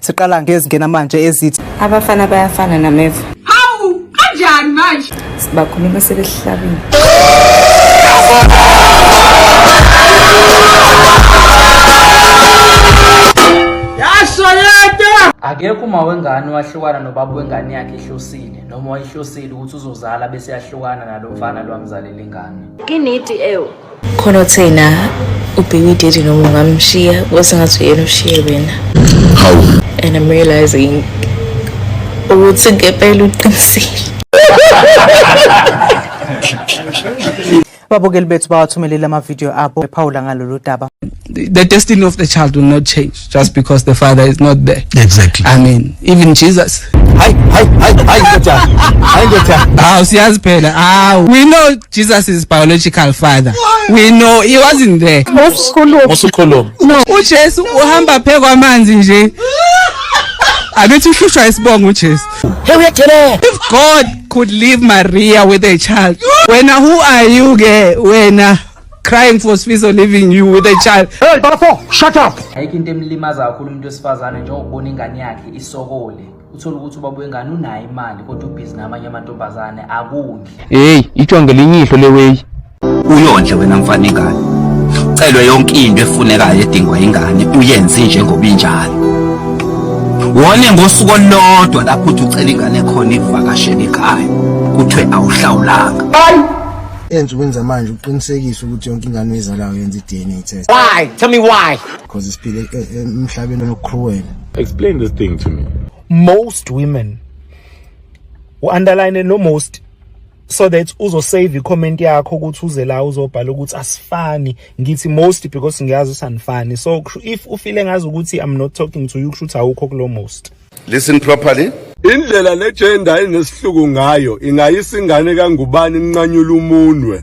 Siqala ngezingena manje ezithi abafana bayafana nameva. Hawu kanjani manje? Sibakhuluma sebehlabile. akekho uma wengane wahlukana nobaba wengane yakhe ihlosile noma wayihlosile ukuthi uzozala bese yahlukana nalo mfana lwamzalela ingane inidi ewu khona uthena ubheki daddy noma ungamshiya wasengathi uyena ushiye wena hawu and i'm realizing ukuthi ngempela uqinisile ababukeli bethu bawathumelele amavidiyo abo bephawula ngalolu daba the destiny of the child will not change just because the father is not there exactly i mean even jesus hayi hayi hayi hayi ndoda hayi ndoda hawu siyazi phela hawu we know jesus is biological father we know he wasn't there usukhuluma no ujesu uhamba phe kwamanzi nje abethi uhlushwa isibongo ujesu hey uyathelela if god could leave maria with a child wena who are you ke wena crying for Sfiso leaving you with a child. Hey, Bafo, shut up. Ayikho into emlimaza kakhulu umuntu wesifazane njengokubona ingane yakhe isokole. Uthola ukuthi ubaba wengane unayo imali kodwa ubhizi namanye amantombazane akundle. Hey, itshwa ngelinye ihlo leweyi. Uyondle wena mfana ingane. Celwe yonke into efunekayo edingwa ingane uyenze njengoba injalo. Wone ngosuku olodwa lapho uthi ucela ingane khona ivakashele ekhaya. Kuthiwe awuhlawulanga. Bye. Ensukwini zamanje uqinisekisa ukuthi yonke ingane oyizalayo yenza i-DNA test. Why? Tell me why. Because isiphile e- e- emhlabeni onokruwela. Explain this thing to me. most women u-underline no most so that uzosave i-comment yakho ukuthi uze la uzobhala ukuthi asifani ngithi most because ngiyazi usanifani so kusho- if ufile ngazi ukuthi i'm not talking to you kusho ukuthi awukho kulo most Listen properly. Indlela le gender inesihluku ngayo ingayisa ingane kangubani inqanyula umunwe.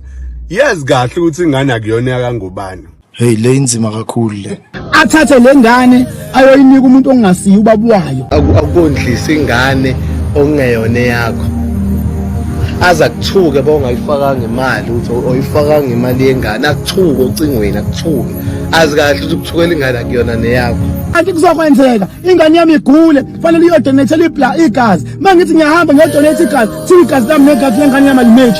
Yazi kahle ukuthi ingane akuyona yakangubani. Hey le inzima kakhulu le. Athathe le ngane ayoyinika umuntu ongasiyi ubaba wayo. Akukondlisa ingane okungeyona yakho. aza kuthuke bawungayifakanga imali uthi oyifakanga imali yengane akuthuke ocingweni akuthuke azi kahle ukuthi ukuthukela ingane akuyona neyakho anti kuzokwenzeka ingane yami igule fanele iyodonethela ibla igazi uma ngithi ngiyahamba ngiyodonetha igazi thiwa igazi lami negazi lengane yami alimeji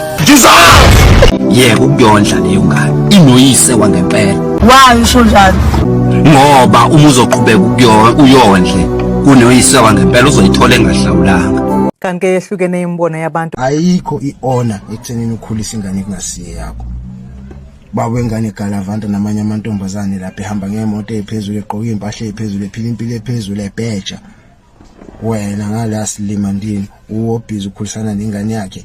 yeka ukuyondla leyo ngane inoyise wangempela wayi usho njalo ngoba uma uzoqhubeka ukuyo- uyondle kunoyise wangempela uzoyithola engahlawulanga kanti ke yehlukene imibono yabantu ayikho i-honor ekuthenini ukhulisa ingane kungasiye yakho baba wengane galavanta namanye amantombazane lapha ehamba ngemoto ephezulu egqoka impahla ephezulu ephila impilo ephezulu ebheja wena ngala silima ndini uwobhizi ukhulisana nengane yakhe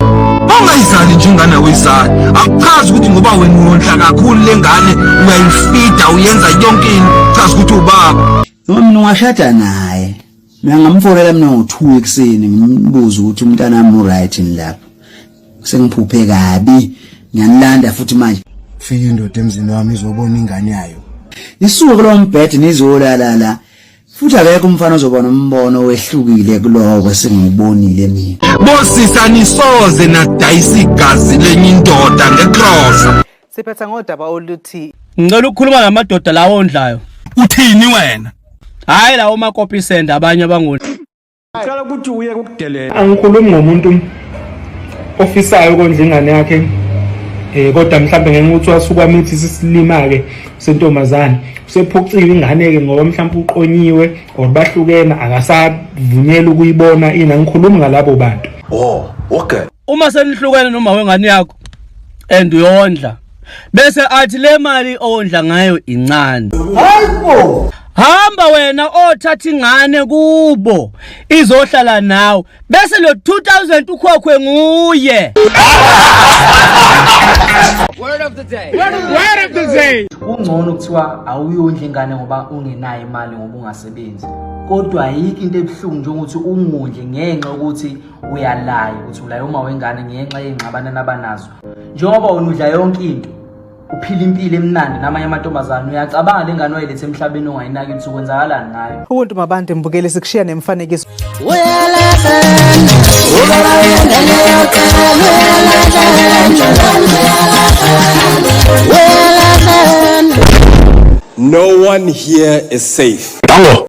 ungayizali njengane uyizali akuchazi ukuthi ngoba wena uyondla kakhulu lengane uyayifida uyenza yonke into chazi ukuthi ubaba noma mina ungashada naye mina ngamfonela mina ngo-two ekuseni ngimbuze ukuthi umntanami uright yini lapho sengiphuphe kabi ngiyanilanda futhi manje fika indoda emzini wami izobona ingane yayo isuke kulo mbhede nizolala la futhi akekho umfana ozobona umbono wehlukile kuloko singubonile mina bosisa nisoze nadayisa igazi lenye indoda ngekrosa Siphetha ngodaba oluthi Ngicela ukukhuluma namadoda lawo ondlayo. Uthini wena? Hayi lawo makopi send abanye abangoni. Ngicela ukuthi uye kukudelela. Angikhulumi ngomuntu ofisayo ukondla ingane yakhe eh kodwa mhlawumbe ngeke ukuthi wasuka mithi sisilima ke sentombazane usephuciwe ingane ke ngoba mhlawumbe uqonyiwe or bahlukene akasavunyelwa ukuyibona ina ngikhuluma ngalabo bantu oh okay uma senihlukene noma wengane yakho and uyondla bese athi le mali owondla ngayo incane hayibo hamba wena othatha ingane kubo izohlala nawe bese lo 2000 ukhokhwe nguye word of the day word of the day kungcono kuthiwa awuyondla ingane ngoba ungenayo imali ngoba ungasebenzi kodwa ayikho into ebuhlungu njengokuthi ungondle ngenxa yokuthi uyalayo ukuthi ulaye uma wengane ngenxa yey'ngxabane nabanazo njengoba wena udla yonke into uphila impilo emnandi namanye amantombazane uyacabanga le ngane wayilethe emhlabeni ongayinaki ukuthi ukwenzakalani ngayo ubuntu mabantu mbukele sikushiya nemfanekiso No one here is safe. Dango.